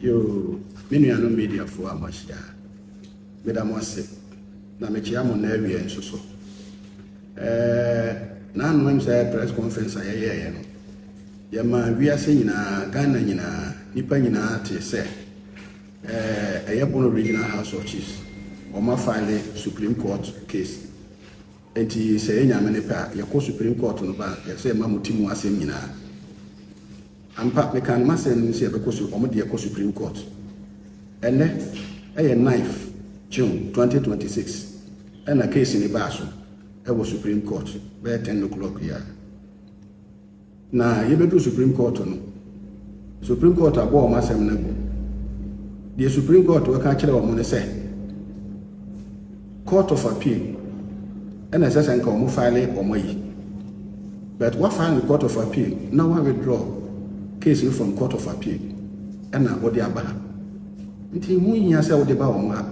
Yoo, me nuanom mediafoɔ a moahyia, meda mo ase, na mekyea mo nnɛ awia nso so. Ɛɛ, na anomam sɛ press conference a yɛyɛeɛ no, yɛma wiase nyinaa, Ghana nyinaa, nipa nyinaa tee sɛ, ɛɛ, ɛyɛ Bono Regional House of Chiefs, wɔn afile Supreme Court case. Enti sɛ ɛyɛ Nyame ne pɛ a, yɛkɔ Supreme Court no ba a, yɛpɛ sɛ yɛma mo ti mu asɛm nyinaa. Ampa, mekaa no m'asɛm no mu sɛ yɛbɛkɔ su, wɔn deɛ kɔ Supreme Court. Ɛnnɛ, ɛyɛ ninth June twenty twenty six, ɛna case no baa so wɔ Supreme Court bɛyɛ ten o'clock yi ara. Na yɛbɛduru Supreme Court no, Supreme Court abɔ wɔn asɛm no agu. Deɛ Supreme Court bɛka akyerɛ wɔn no sɛ, Court of Appeal ɛna ɛsɛ sɛ nka wɔn file wɔn ayi. But wa file no Court of Appeal na wa withdraw case no from Court of Appeal ɛna wɔde aba ha. Nti ho hia sɛ wɔde ba wɔn ha.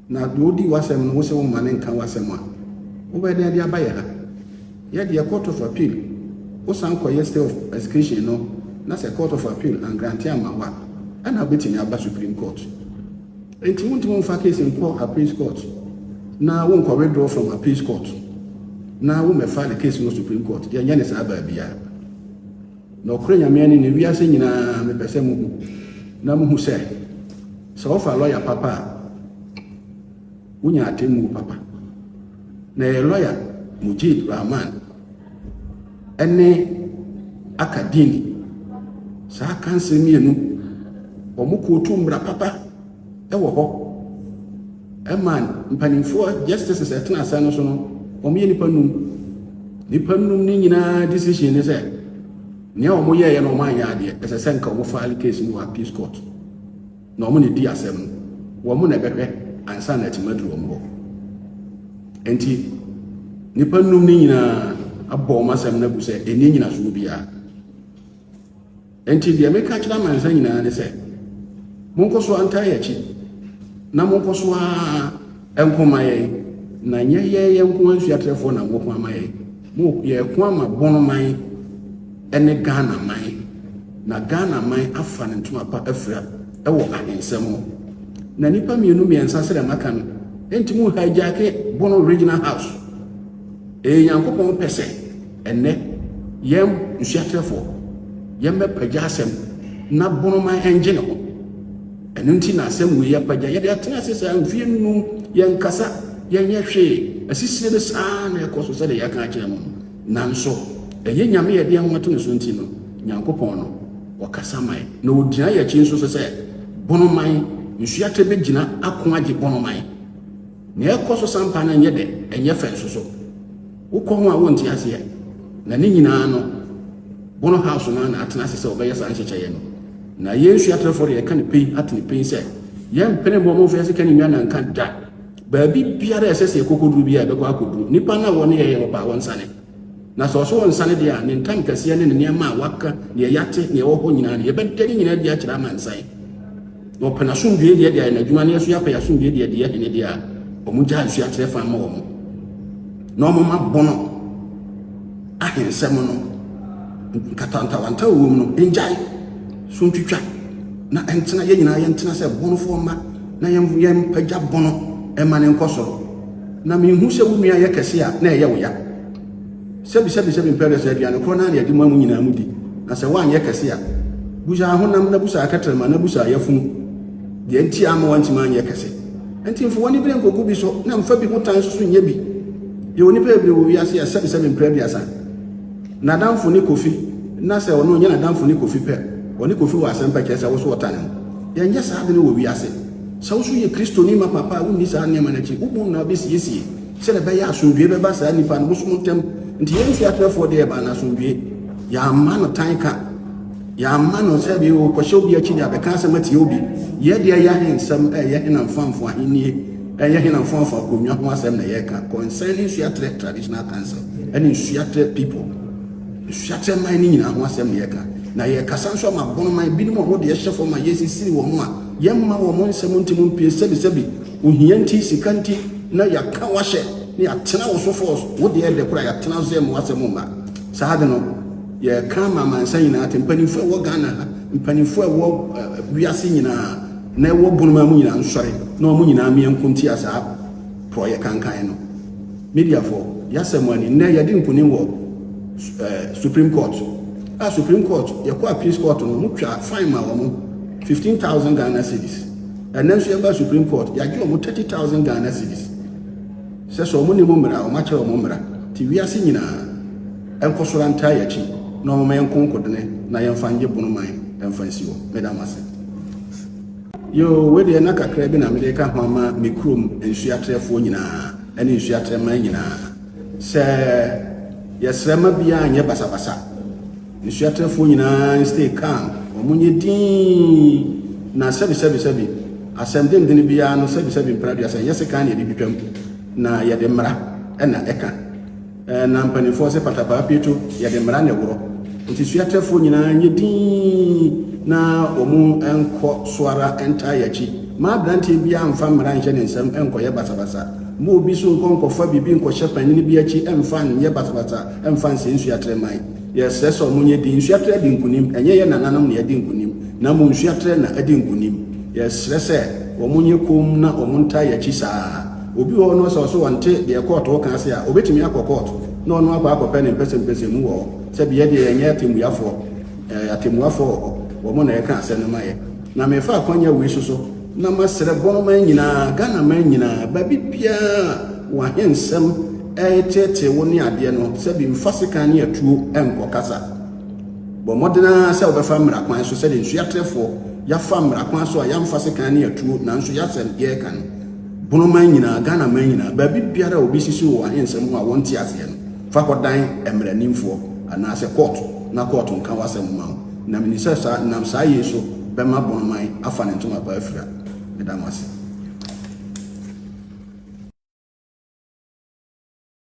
Na deɛ ɔdi w'asɛm no, wo se wo mma no nka w'asɛm a, wobɛyɛ dɛn de aba yɛ ha? Yɛ deɛ Court of Appeal, wo san kɔ yɛ stay of execution no na sɛ Court of Appeal angrante amma wo a, ɛna wobɛtumi aba Supreme Court. Enti wontumi mfa case nkɔ Appeals Court na wo nkɔ withdraw from Appeals Court na wo mmɛ file case no wɔ Supreme Court. Yɛnyɛ no saa baabiara. Na ɔkorɛ Nyame ani ne wiase nyinaa mepɛ sɛ mo hu na mo hu sɛ sɛ wo fa lɔya papa a wo nya atemmuo papa na ɛyɛ lɔya Mujib Rahman ɛne aka dini saa kanse mmienu wɔn kootu mmra papa wɔ hɔ ma mpanimfoɔ justices ɛtena asɛn no so no wɔyɛ nipa num nipa num no nyinaa decision ne sɛ nea wɔn yɛɛyɛ na wɔn anyɛ adeɛ ɛsɛ sɛ nka wɔn file case no wɔ appeals court na wɔn na edi asɛm no wɔn na ɛbɛhwɛ ansa na ɛtuma duru wɔn hɔ nti nipa num no nyinaa abɔ wɔn asɛm no agu sɛ ɛni nyinasoɔ biara Enti deɛ meka kyerɛ amansan nyinaa ne sɛ, Monkɔ so ara ntaa yɛn akyi, na monkɔ so ara nko mma yɛn, na nyɛ yɛn yɛn nko ara nsuatrɛfoɔ na moko ama yɛn. Mo, yɛreko ama Bonoman ne Ghanaman, na Ghanaman afa ne ntoma pa afira wɔ ahensɛ mu. Na nnipa mmienu mmiɛnsa srɛ maka no, enti mo hijack Bono Regional House. Ɛyɛ Nyankopɔn pɛ sɛ ɛnnɛ yɛn nsuakyerɛfoɔ yɛmmɛpagya asɛm na bonoman ɛngye ne ho. Ɛno nti na asɛm wei apagya yɛde atena ase saa mfie nnum yɛnkasa yɛnyɛ hwee asisire no saa na ɛkɔ so sɛdeɛ yɛaka akyerɛ mo nanso ɛyɛ Nyame yɛde yɛn ho ato ne so nti no Nyankopɔn no ɔkasa man na ɔgyina yɛn akyi nso sɛ sɛ bonoman nsuakyerɛ bɛgyina ako agye bonoman Nea ɛkɔ so saa mpa no nyɛ dɛ, ɛnyɛ fɛ nso so. Wokɔ ho a wonte aseɛ. Na ne nyinaa no, Bono House no ara na atena ase sɛ wɔbɛyɛ saa nhyehyɛeɛ no. Na yɛn suatrɛfoɔ deɛ yɛka no pei atene pei sɛ, yɛmpene mmoa mu mfa yɛn sika ne nnuane nka da. Baabi biara a ɛsɛ sɛ yɛkɔ kɔduru biara yɛbɛkɔ akɔduru. Nnipa no a wɔne yɛn yɛ no paa, wɔnsane. Na sɛ ɔso nsa no deɛ a, ne ntankɛseɛ ne ne nneɛma a waka, deɛ yɛate, deɛ ɛwɔ hɔ nyinaa no, yɛbɛda ne nyinaa adi akyerɛ amansan. Na ɔpɛ n'asomdwoeɛ deɛ deɛ ayɛ n'adwuma no, yɛso yɛapɛ yɛasomdwoeɛ deɛ deɛ hene deɛ a, wɔn gyaa nsuo akyerɛ fa ma wɔn. Na wɔn ma bono ahensɛm no, nkatantawanta wɔ mu no, ngyae, so ntwitwa, na ɛntena, yɛn nyinaa yɛntena sɛ bonofoɔ mma, na yɛmpagya bono ɛma ne nkɔ soro. Na minhu sɛ wo nua yɛ kɛse a na ɛyɛ wo ya. Sɛbisɛbisɛbi mpɛ dɛ sɛ aduane korɔ no ara na yɛde ma mo nyinaa mu di, na sɛ woanyɛ kɛse a, busa ahonam na busa akɛterɛma na busa yafunu deɛ nti a amma woantumi anyɛ kɛse. Ɛnti mfa w'anibere nkogu bi so na mfa bi ho tan nso so nyɛ bi. Yɛwɔ nnipa bebree wɔ wiase a sɛbisɛbi mpɛ aduasa n'adamfo ne Kofi na sɛ ɔno ɔnyɛ n'adamfo ne Kofi pɛ ɔne Kofi wɔ asɛm pɛ kyerɛ sɛ wo so ɔtane no. Yɛnyɛ saa ade no wɔ wiase. Sɛ wo nso yɛ Kristoni ma papa a, wunni saa nneɛma no akyi. Wo boom na wobesiesie sɛnea ɛbɛyɛ a asomdwoe bɛba saa nnipa no bosom ntam. Enti yɛn mfe atrɛfoɔ deɛ, ɛbaa no asomdwoe. Yɛamma no tan ka. Yɛamma no sɛ bi kɔhyɛ obi akyi de abɛka asɛm atia obi. Yɛn deɛ ɛyɛ ahensɛm, ɛyɛ henamfoamfo ahenni, ɛyɛ henamfoamfo akonnwa ho asɛm na yɛka, concerning Nsuaterɛ Traditional Council ne Nsuaterɛ people, Nsuaterɛ man no nyinaa ho asɛm na yɛka. Na yɛkasa nso ama Bonoman binom a wɔn deɛ ɛhyɛ fam a yɛresisiri wɔn a Yɛmma wɔn nsɛm nte mu mpie sɛbisɛbi, ohia nti, sika nti, na yɛaka w'ahyɛ na yɛatena wo so fɔɔs, wo deɛ ɛdɛ koraa yɛatena so yɛmma w'asɛm mma. Saa ade no, yɛreka ama amansan nyinaa ate, mpanimfoɔ a ɛwɔ Ghana ha, mpanimfoɔ a ɛwɔ wiase nyinaa na ɛwɔ Bonomaa mu nyinaa nsɔre na wɔn nyinaa mmeɛ nko ntia saa porɔeɛ kankan no. Mediafoɔ, yɛasɛ mo ani, nnɛ yɛadi nkonim wɔ Supreme Court. A Supreme Court, yɛkɔ Appeals Court no, motwaa fine maa wɔn. Fifteen thousand Ghana cedis. Ɛnɛ nso yɛba Supreme Court, yɛagye wɔn thirty thousand Ghana cedis. Sɛ sɛ wɔn nim mmara, wɔn akyerɛ wɔn mmara. Ti wiase nyinaa ɛnkɔsoro antaa yɛn akyi na wɔn ma yɛn nkonkodene na yɛn fa nye bono man ɛnfa nsi hɔ. Meda mo ase. Yoo, wei deɛ na kakra bi na mede reka ho ama me kurom nsuatrɛfoɔ nyinaa ɛne nsuatrɛman nyinaa sɛ yɛsrɛ ma biara nyɛ basabasa. Asuatrɛfoɔ nyinaa stay calm, wɔn nyɛ dinn, na sɛbi sɛbi sɛbi asɛm dendene biara no sɛbi sɛbi mpɛnaduasa nyɛ sekan na yɛde twitwam na yɛde mmara na ɛka. Na mpanimfoɔ sɛ patapaa pieto yɛde mmara na ɛworɔ. Nti suatrɛfoɔ nyinaa nyɛ dinn na wɔn nkɔ so ara ntaa yɛakyi. Ma abranteɛ biara mfa mmara nhyɛ ne nsam nkɔyɛ basabasa. Ma obi so nkɔ nkɔfa biribi nkɔhyɛ panin bi akyi mfa nyɛ basabasa mfa nsɛe nsuatrɛman. Yɛsrɛ sɛ ɔmo nyɛ den nsua trɛ di nkunim, ɛnyɛ yɛn nananom na yɛdi nkunim, na mmom nsua trɛ na ɛdi nkunim. Yɛsrɛ sɛ ɔmo nyɛ komm na ɔmo ntaa yɛn akyi saa ara. Obi wɔ hɔ no sɛ ɔso ɔnte deɛ kɔɔto reka ase a, ɔbɛtumi akɔ kɔɔt na ɔno akɔ akɔpɛ ne mpɛsɛmpɛsɛ mu wɔ hɔ. Sɛbi yɛ deɛ yɛnyɛ atemmuafoɔ, ɛɛ atemmuafoɔ wɔ hɔ, wɔn na yɛka asɛm no ma yɛn. Na mefa akwanya wei so so. Na masrɛ bɔɔman nyinaa, Ghanaman nyinaa, baabi biara a wo ahensɛm reteetee wo ne adeɛ no, sɛ bi mfa sekan ne atuo nkɔ kasa. Bɔ mmɔden ara sɛ wobɛfa mmara kwan so sɛdeɛ nsuo atrɛfoɔ yɛafa mmara kwan so a yɛamfa sekan ne atuo nanso yɛasɛm yɛreka no. Bɔɔman nyinaa, Ghanaman nyinaa, baabi biara a obi sisi wo wɔ ahensɛm ho a wɔnte aseɛ no, Fa kɔdan mmaranimfoɔ anaasɛ kɔɔt na kɔɔt nka w'asɛm mma wo, na menim sɛ saa, nam saa yei so bɛma Bonoman afa ne ntoma pa afira. Meda mo ase.